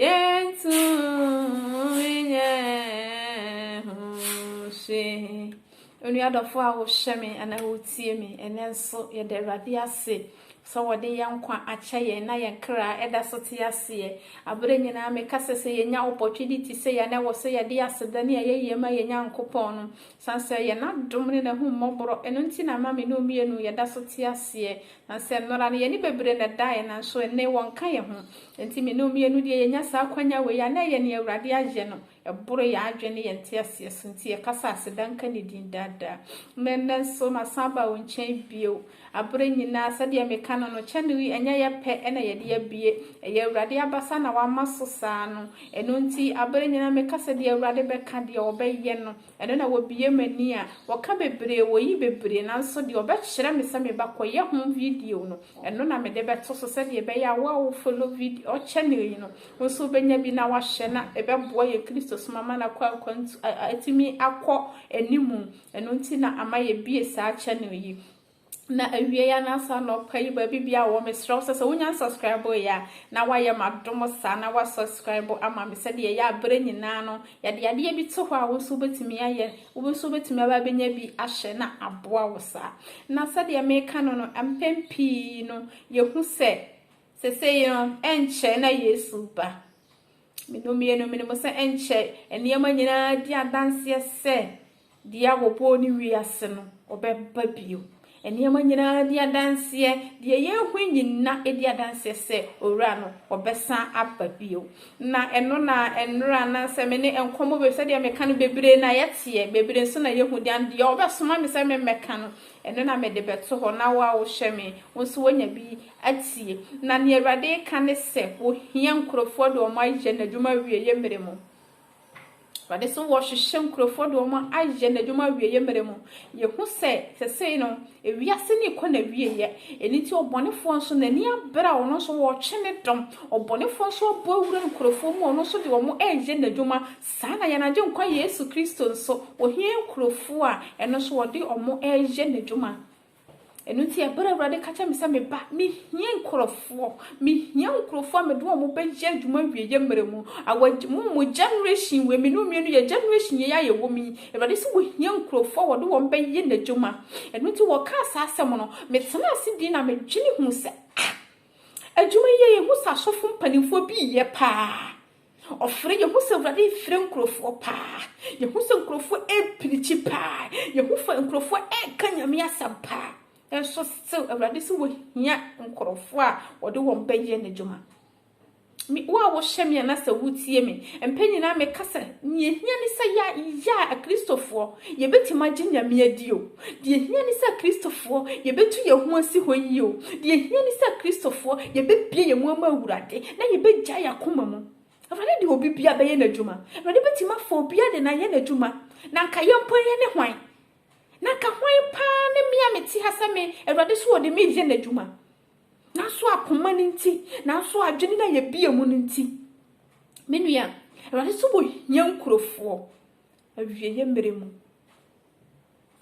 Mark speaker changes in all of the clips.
Speaker 1: Yɛntumi nyɛ ho hwee. Onua dɔfo a wohwɛ me anaa wotie me ɛnɛ nso, yɛda Awurade ase sɛ wɔde yɛn nkwa akyɛ yɛn na yɛn kra ɛda so te aseɛ. Abere nyinaa meka sɛ sɛ yɛnya ɔpɔtwidi te sɛ yɛn na ɛwɔ sɛ yɛde aseda ne ayɛyie ma yɛn Nyankopɔn no. Na sɛ ɛyɛ N'adom ne N'ahummɔborɔ, ɛno nti na ama me ne wo mmienu yɛda so te aseɛ. Na sɛ nnora no, yɛn ani bebree na ɛdaeɛ, nanso enne, wɔnnka yɛn ho. Enti me ne wo mmienu deɛ, yɛnya saa akwanya wei a, na ɛyɛ nea Awurade ayɛ no. Ɛboro yɛn adwene ne yɛn nteaseɛ so, enti yɛka sɛ, Aseda nka Ne din daa daa. Na ɛnnɛ nso, masan aba wo nkyɛn bio. Abere nyinaa sɛdeɛ meka no no, channel yi ɛnyɛ yɛ pɛ na yɛde abue, ɛyɛ Awurade abasa na wama so saa no, ɛno nti abere nyinaa meka sɛ deɛ Awurade bɛka, deɛ ɔbɛyɛ no, ɛno na wɔbue m'ani a, wɔka bebree, wɔyi bebree, nanso deɛ ɔbɛkyerɛ me sɛ me ba kɔyɛ ho video no, ɛno na mede bɛto so sɛdeɛ ɛbɛyɛ a wo a wo follow video, channel yi no, wo nso wobɛnya bi na wahwɛ na ɛbɛboa yɛn Kristosom ama no akɔ akwantu, atumi akɔ anim. Ɛno nti na ama yɛbue saa channel yi. Na awiei anaasɛ anɔpa yi baabi biara wɔ mesrɛ wo sɛ sɛ wonya nsubscribe yɛ a na woayɛ m'adom saa na woasubscribe ama me sɛdeɛ ɛyɛ a berɛ nyinaa no yɛde adeɛ bi to hɔ a wo nso wobɛtumi ayɛ wo nso wobɛtumi aba abɛnya bi ahyɛ na aboa wo saa na sɛdeɛ meka no no mpɛn pii no yɛhu sɛ sesei no ɛnkyɛ na yesu ba Me no mmiɛ no menim sɛ ɛnkyɛ nneɛma nyinaa di adanseɛ sɛ deɛ a wɔbɔɔ ne wiase no ɔbɛba bio. Nneɛma nyinaa di adanseɛ, deɛ yɛhu nyina di adanseɛ sɛ owura no ɔbɛsan aba bio. Na ɛno na nnora anaasɛ me ne nkɔmmɔ bebree sɛdeɛ meka no bebree na yɛteɛ, bebree nso na yɛhu deɛ deɛ ɔbɛsoma me sɛ memmɛka no Ɛno na mede bɛto hɔ, na wo a wohwɛ me, wo nso woanya bi atie. Na nea Awurade reka ne sɛ, Wohia nkurɔfoɔ de wɔn ayɛ n'adwuma awieeɛ mmerɛ mu. Awurade se wɔhwehwɛ nkurɔfoɔ de wɔn ayɛ n'adwuma awieeɛ mmerɛ mu. Yɛhu sɛ sesei no, ewiase no rekɔ n'awieeɛ. Ɛno nti ɔbɔnefoɔ nso, n'ani abere a ɔno nso wɔretwe ne dɔm. Ɔbɔnefoɔ nso abɔ awura nkurɔfoɔ mu a ɔno nso de wɔn reyɛ n'adwuma Saa na yɛn Agyenkwa Yesu Kristo nso, ɔhia nkurɔfoɔ a ɛno nso wɔde wɔn reyɛ N'adwuma. Ɛno nti, ɛberɛ a Awurade ka kyerɛ me sɛ, Me ba, mehia nkurɔfoɔ, mehia nkurɔfoɔ a mede wɔn bɛyɛ adwuma awieɛ mmerɛ mu. Our, mo, mo generation wei, me ne onua no yɛ generation yei a yɛwɔ mu yi, Awurade sɛ ɔhia nkurɔfoɔ a wɔde wɔn bɛyɛ N'adwuma. Ɛno nti, wɔkaa saa asɛm no, metenaa ase dii na medwene huu sɛ, Ah! Adwuma yi a ɛhu sɛ asɔfo mpanimfoɔ bi reyɛ paa. Ɔfrɛ, yɛhu sɛ Awurade refrɛ nkurɔfoɔ paa. Yɛhu sɛ nkurɔfoɔ repirikyi paa. Yɛhu fa nkurɔfoɔ reka Nyame asɛm paa. Nanso still Awurade sɛ wɔhia nkurɔfoɔ a wɔde wɔn bɛyɛ n'adwuma. Me, wo a wohyɛ me anasɛ wotie me, mpɛ nyinaa meka sɛ, nea ɛhia ne sɛ yɛa, yɛa, akristofoɔ, yɛbɛtumi agye Nyame adi o. Deɛ ɛhia ne sɛ Kristofoɔ yɛbɛtu yɛn ho asi hɔ yie o. Deɛ ɛhia ne sɛ Kristofoɔ yɛbɛbue yɛn mu ama Awurade na yɛbɛgyae yɛn akoma mu. Awurade de obi biara bɛyɛ n'adwuma. Awurade bɛtumi afa obiara de no ayɛ n'adwuma. Na anka yɛn mpo yɛne hwan? Na anka hwan paa ne me a mete ha sɛ me Awurade so ɔde me reyɛ n'adwuma? Nanso akoma no nti, nanso adwene no a yɛbie mu no nti. Me nua, Awurade so wɔ hia nkurɔfoɔ. Awieeɛ mmerɛ mu.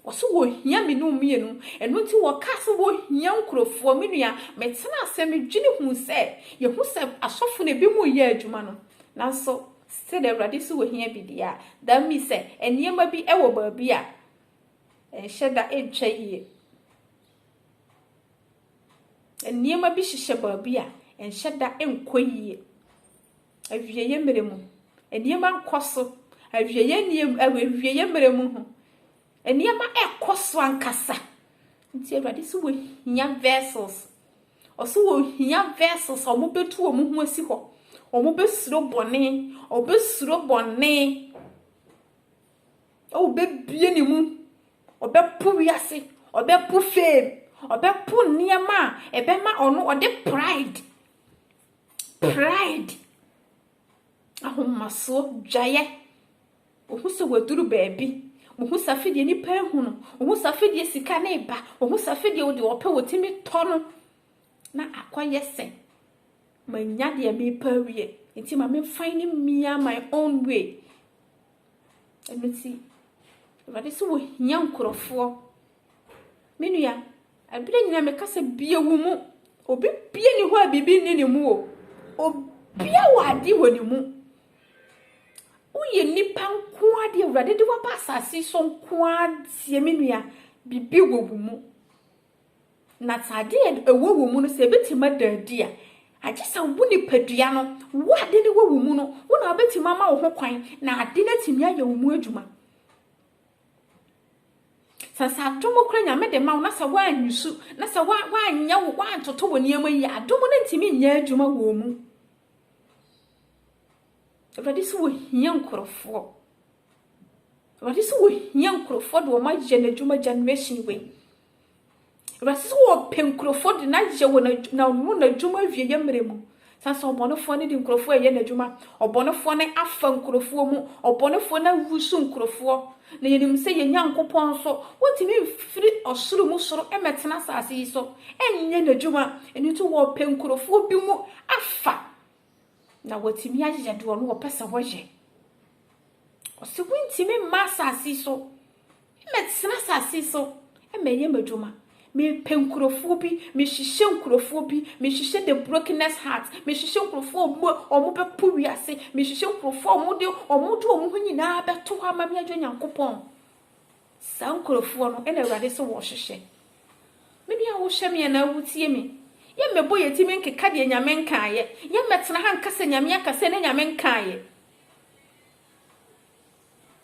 Speaker 1: Wɔse wɔhia me ne wo mmienu. Ɛno nti wɔkaa sɛ wɔhia nkurɔfoɔ. Me nua, metena ase, medwene huu sɛ, yɛhu sɛ asɔfo no ebinom reyɛ adwuma no. Nanso sɛdeɛ Awurade nso wɔhia bi deɛ a, that means sɛ nneɛma bi wɔ baabi a ɛnhyɛ da ntwa yie. Nneɛma bi hyehyɛ baabi a ɛnhyɛ da nkɔ yie. Awieeɛ mmerɛ mu nneɛma nkɔ so, awieeɛ nneɛm ɛwɔ awieeɛ mmerɛ mu ho. Nneɛma ɛkɔ so ankasa. Nti Awurade sɛ wɔhia vessels. Ɔsɛ wɔhia vessels a wɔbɛtu wɔn ho asi hɔ. Wɔbɛsuro bɔne. Wɔbɛsuro bɔne. Wɔbɛbie ne mu. Wɔbɛpo wiase. Wɔbɛpo fame. Wɔbɛpo nneɛma a ɛbɛma ɔno ɔde pride Pride, ahomasoɔ, dwaeɛ, wohu sɛ wɔaduru baabi, wohu sɛ afei deɛ nipa ahu no, wohu sɛ afei deɛ sika no reba, wohu sɛ afei deɛ wode wɔpɛ wɔtumi tɔ no na akɔyɛ sɛ manya deɛ mepa awie nti ma memfan ne mmia my own way ɛno nti awurade sɛ wɔhia nkurɔfoɔ me nua Ɛberɛ nyinaa mekasa bue wo mu. Obi bia nni hɔ a biribi nni ne mu o. Obia wɔ adeɛ wɔ ne mu. Woyɛ nipa nko ara deɛ awurade de waba asase so nko ara deɛ me nua biribi wɔ wo mu. Na sɛ adeɛ ɛwɔ wo mu no sɛ ɛbɛtumi ada adi a agye sɛ wo nipadua no wo ade no wɔ wo mu no wo na wobɛtumi ama wo ho kwan na ade no atumi ayɛ wo mu adwuma. Sɛ sɛ adom kura Nyame de ma wo na sɛ woanwusu na sɛ woanyɛ wo woantoto wɔ nneɛma yi adom no ntumi nyɛ adwuma wɔ mu. Awurade sɛ wɔhia nkurɔfoɔ. Awurade sɛ wɔhia nkurɔfoɔ de wɔn ayɛ n'adwuma generation wei. Awurade sɛ wɔpɛ nkurɔfoɔ de no ayɛ wɔ n'ano n'adwuma awieɛ mmerɛ mu. Sane sɛ ɔbɔnefoɔ no de nkurɔfoɔ ɛyɛ n'adwuma. Ɔbɔnefoɔ no afa nkurɔfoɔ mu. Ɔbɔnefoɔ no awusu nkurɔfoɔ. Na yɛnim sɛ yɛn Nyankopɔn nso, wɔntumi mfiri ɔsoro mu soro mmɛtena asase yi so nyɛ n'adwuma. Ɛno nti wɔpɛ nkurɔfoɔ bi mu afa. Na wɔatumi ayɛ deɛ ɔno ɔpɛ sɛ wɔyɛ. Ɔsɛ wontumi mma asase so. Mɛtena asase so. Mɛyɛ m'adwuma. Mepɛ nkurɔfoɔ bi. Mehyehyɛ nkurɔfoɔ bi. Mehyehyɛ the brokenness heart. Mehyehyɛ nkurɔfoɔ a wɔn bɛpo wiase. Mehyehyɛ nkurɔfoɔ a wɔde wɔn ho nyinaa bɛto hɔ ama me agya Nyankopɔn. Saa nkurofoɔ no na Awurade se wɔhwehwɛ. Me nua wohwɛ me anaa wotie me? Yɛ mmɛbɔ yɛ timi nkeka deɛ Nyame nkaayɛ. Yɛ mmɛtena ha nka sɛ Nyame aka sɛ ne Nyame nkaayɛ.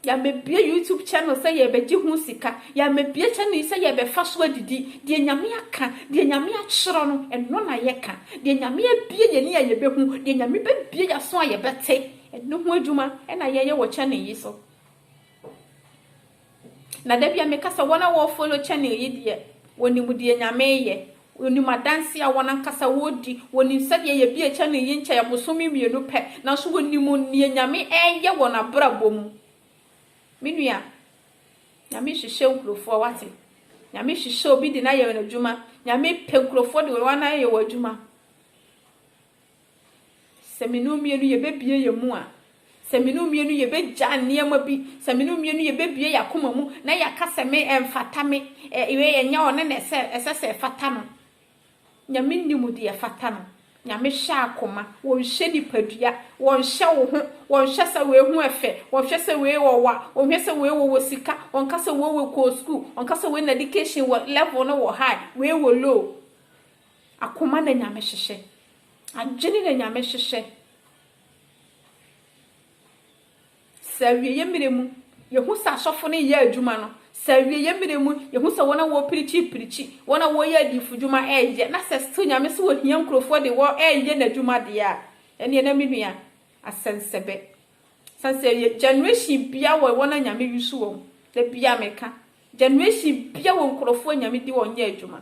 Speaker 1: Yɛ mmɛbie YouTube channel sɛ yɛ bɛgye ho sika. Yɛ mmɛbie channel yi sɛ yɛ bɛfa so adidi. Deɛ Nyame aka, deɛ Nyame atwerɛ no, ɛno na yɛ ka. Deɛ Nyame abie yɛ ani a yɛ bɛhu, deɛ Nyame bɛbie yɛ aso a yɛ bɛte, ɛno ho adwuma na yɛ yɛ wɔ channel yi so. Na da bia meka sɛ wɔn a wɔ follow channel yi deɛ wɔnim deɛ Nyame yɛ, wɔnim adanseɛ a wɔn ankasa wɔdi, wɔnim sɛdeɛ yɛbie channel yi nkyɛɛ bosome mmienu pɛ, nanso wɔnim deɛ Nyame ɛɛyɛ wɔ nabrabɔ mu. Me nua, Nyame hwehwɛ nkurofoɔ wate, Nyame hwehwɛ obi de no ayɛ no adwuma, Nyame pɛ nkurofoɔ de wɔn ayɛ wɔn adwuma. Sɛ me ne wo mmienu yɛbɛbue yɛn mu a, sɛ me ne wo mmienu yɛbɛgya nneɛma bi, sɛ me ne wo mmienu yɛbɛbue yɛn akoma mu na yɛaka sɛ me ɛmfata me, ɛ, wei ɛnyɛ ɔno na ɛsɛ, ɛsɛ sɛ ɛfata no. Nyame nim deɛ ɛfata no. Nyame hwɛ akoma, wɔnhwɛ nipadua, wɔnhwɛ wo ho, wɔnhwɛ sɛ wei ho ɛfɛ, wɔnhwɛ sɛ wei ɔwa, wɔnhwɛ sɛ wei wɔwɔ sika, wɔnka sɛ wei wɔ kɔɔ sukuu, wɔnka sɛ wei n'education wɔ level no wɔ high, wei wɔ low. Akoma na Nyame hyehyɛ. Adwene na Nyame hyehyɛ. Sɛ awieɛ mmerɛ mu, yɛhu sɛ asɔfo no reyɛ adwuma no, sɛ awieɛ mmerɛ mu, yɛhu sɛ wɔn a wɔreprikyi reprikyi, wɔn a wɔreyɛ adiyifodwuma reyɛ, na sɛ still Nyame se wɔhia nkurɔfoɔ de wɔn reyɛ N'adwuma deɛ a, ɛnneɛ na me nua, asɛnsɛbɛ. Sane sɛ yɛ, generation biara wɔ wɔn a Nyame use wɔn. Da biara meka, generation biara wɔ nkurɔfoɔ a Nyame de wɔn yɛ adwuma.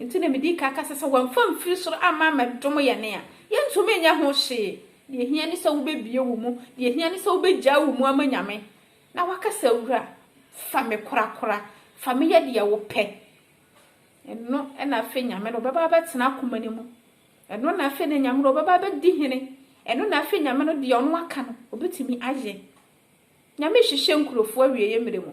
Speaker 1: Enti na midi kan kasa sɛ wɔmfa mfiri soro amma ammɛdom yɛn a, yɛrentumi nyɛ ho hwee. Deɛ ɛhia ne sɛ wobɛbue wo mu. Deɛ ɛhia ne sɛ wobɛgyae wo mu ama Nyame, na woaka sɛ, Wura, fa me korakora. Fa me yɛ deɛ wopɛ. Ɛno na afei Nyame no bɛba abɛtena akoma no mu. Ɛno na afei na Nyame no ɔbɛba abɛdi hene. Ɛno na afei Nyame no deɛ ɔno aka no, ɔbɛtumi ayɛ. Nyame rehwehwɛ nkurofoɔ awieɛ mmerɛ mu.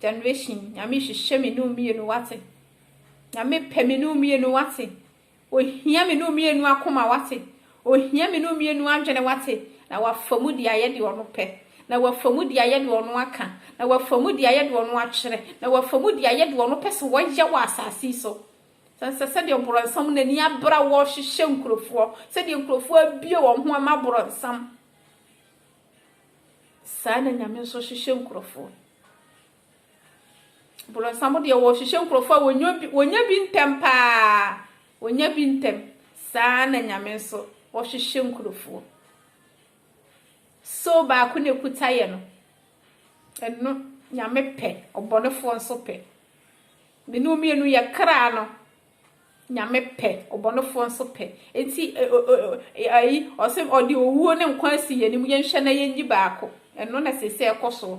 Speaker 1: Generation nyame hwehwɛ me ne wo mienu wate Nyame pɛ me ne wo mienu wate Ohia me ne wo mienu akoma wate Ohia me ne wo mienu adwene wate Na wafa mu de ayɛ deɛ ɔno pɛ Na wafa mu de ayɛ deɛ ɔno aka Na wafa mu de ayɛ deɛ ɔno atwerɛ Na wafa mu de ayɛ deɛ ɔno pɛ sɛ wɔyɛ wɔ asase yi so Sɛ sɛdeɛ ɔborɔnsam n'ani abra wɔhwehwɛ nkurofoɔ Sɛdeɛ nkurofoɔ abue wɔn ho ama borɔnsam Saa na Nyame nso hyehyɛ nkurɔfoɔ. Borɔnsam deɛ wɔhyehyɛ nkurɔfoɔ a wɔnya bi ntɛm paa, wɔnya bi ntɛm. Saa na Nyame nso ɔhyehyɛ nkurɔfoɔ. So baako na ɛkuta yɛ no, ɛno Nyame pɛ, ɔbɔnefoɔ nso pɛ. Mene mmienu yɛ kra no, Nyame pɛ, ɔbɔnefoɔ nso pɛ. Enti ayi, ɔse ɔde owuo ne nkwa asi yɛn anim, yɛnhwɛ na yɛnyi baako. Ɛno na seesei ɛkɔ soɔ.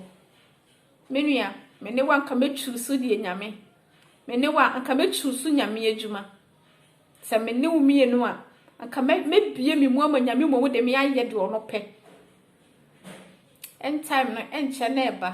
Speaker 1: Me nua, me ne wo a nka mɛ chuusu deɛ Nyame. Me ne wo a nka mɛ chuusu Nyame adwuma. Sɛ me ne wo mmienu a, nka mɛ bie me mu ama Nyame mmom de me ayɛ deɛ ɔno pɛ. End time no ɛnkyɛ na ɛba.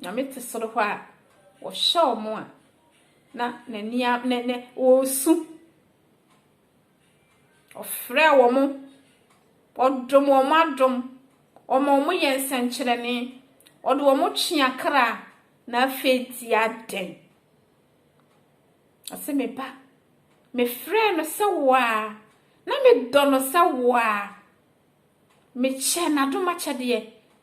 Speaker 1: Nyame te soro hɔ a, ɔhwɛ wɔn a na n'ani a ne ne ɔresu. Ɔfrɛ wɔn, ɔdom wɔn adom, ɔma wɔn yɛ nsɛnkyerɛnne, ɔde wɔn twe akra na afei di adɛn? Ɔse me ba, mefrɛɛ no sɛ wo a, na medɔ no sɛ wo a, mekyɛ n'adomakyɛdeɛ.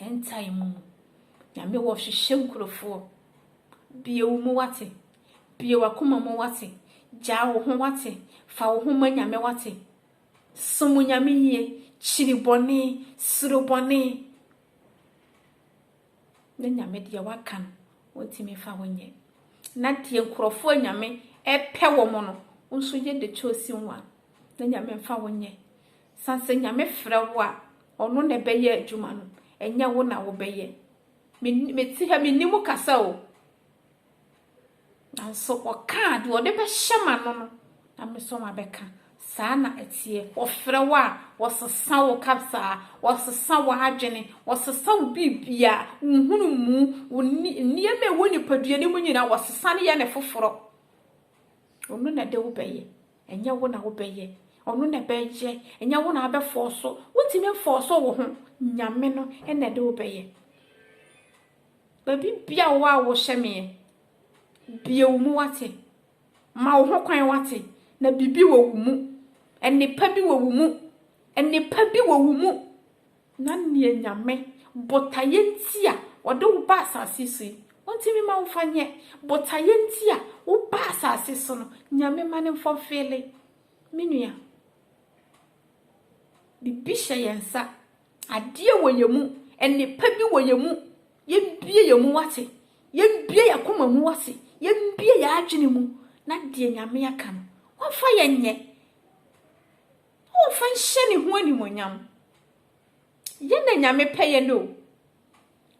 Speaker 1: Ntae mu. Nyame wɔ hwehwɛ nkurofoɔ. Bue wo mu wate. Bue wakoma mu wate. Gyaa wo ho wate. Fa wo ho ma Nyame wate. Som Nyame yie. Kyiri bɔne. Suro bɔne. Na Nyame deɛ waka no, ontimi mfa ho nyɛ. Na deɛ nkurɔfoɔ a Nyame ɛpɛ wɔn no, nso yɛ de kyɛ osi wɔn a, na Nyame mfa ho nyɛ. San sɛ Nyame frɛ wo a ɔno na ɛbɛyɛ adwuma no ɛnyɛ wo na wobɛyɛ. Me me te ha me nni mu kasa o. Nanso ɔkaa deɛ ɔde bɛhyɛ m'ano no na me nso mabɛka. Saa na ɛteɛ. Wɔfrɛ wo a wɔsesa wo kasaa, wɔsesa w'adwene, wɔsesa wo biribia, wo nhunumu, wo nneɛma a ɛwɔ nipadua no mu nyinaa wɔsesa no yɛ no foforɔ. Ɔno na ɛde wo bɛyɛ. Ɛnyɛ wo na wobɛyɛ, Ɔno na ɛbɛyɛ. Ɛnyɛ wo na wobɛfɔɔso, wontumi mfɔɔso wo ho, Nyame no na ɛde wo bɛyɛ. Baabi bia wowɔ a wohyɛ meɛ, bue wo mu wate, ma wo ho kwan wate, na bibi wɔ wo mu, nnepa bi wɔ wo mu, nnepa bi wɔ wo mu. Na neɛ Nyame, botaeɛ nti a Ɔde wo ba asaase so yi, Ontimi mma wo mfa nyɛ. Botaeɛ nti a woba asaase so no, Nyame ma no mfɔlfeele. Me nua, biribi hyɛ yɛn nsa. Adeɛ wɔ yɛn mu. Nnepa bi wɔ yɛn mu. Yɛmbue yɛn mu wate. Yɛmbue yɛn akoma mu wate. Yɛmbue yɛn adwene mu na deɛ Nyame aka no, wɔmfa yɛn nyɛ. Momfa nhyɛ ne ho animuonyam. Yɛ na Nyame pɛ yɛn o.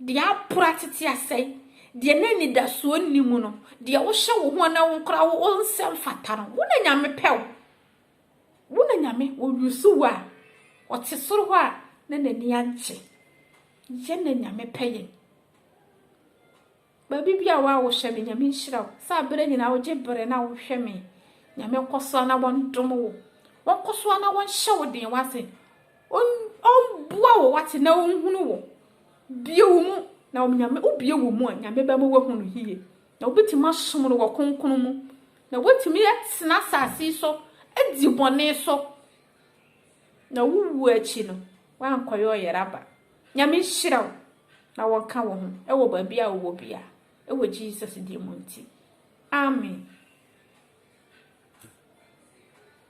Speaker 1: Deɛ apora tete asɛe, deɛ na anidasoɔ nni mu no, deɛ wohyɛ wo ho na wokora wo wo nsɛ mfata no, wo na Nyame pɛ o. Wo na Nyame ɔyusu wo a, ɔte soro hɔ a na n'ani ankye. Yɛ na Nyame pɛ yɛn. Baabi bia wo a wo hwɛ me nyame nhyira wo sɛ aberɛ nyinaa wo gye berɛ na wo hwɛ me nyame nkɔ so a na wɔn dom wo wɔn kɔ so a na wɔn hyɛ wo den wase wɔn boa wo wate na wɔn hunu wo bie wo mu na wɔn nyame wo bie wo mu a nyame bɛ mo wahunu yie na wo bɛtumi asom no wɔ kronkron mu na wɔtumi yɛ tena asase so adi bɔne so na wo wuo akyi no wɔankɔyɛ ɔyɛrɛ aba Nyame nhyira wo na wɔnka wo ho wɔ baabi a wowɔ biara wɔ Jesus din mu nti, amen.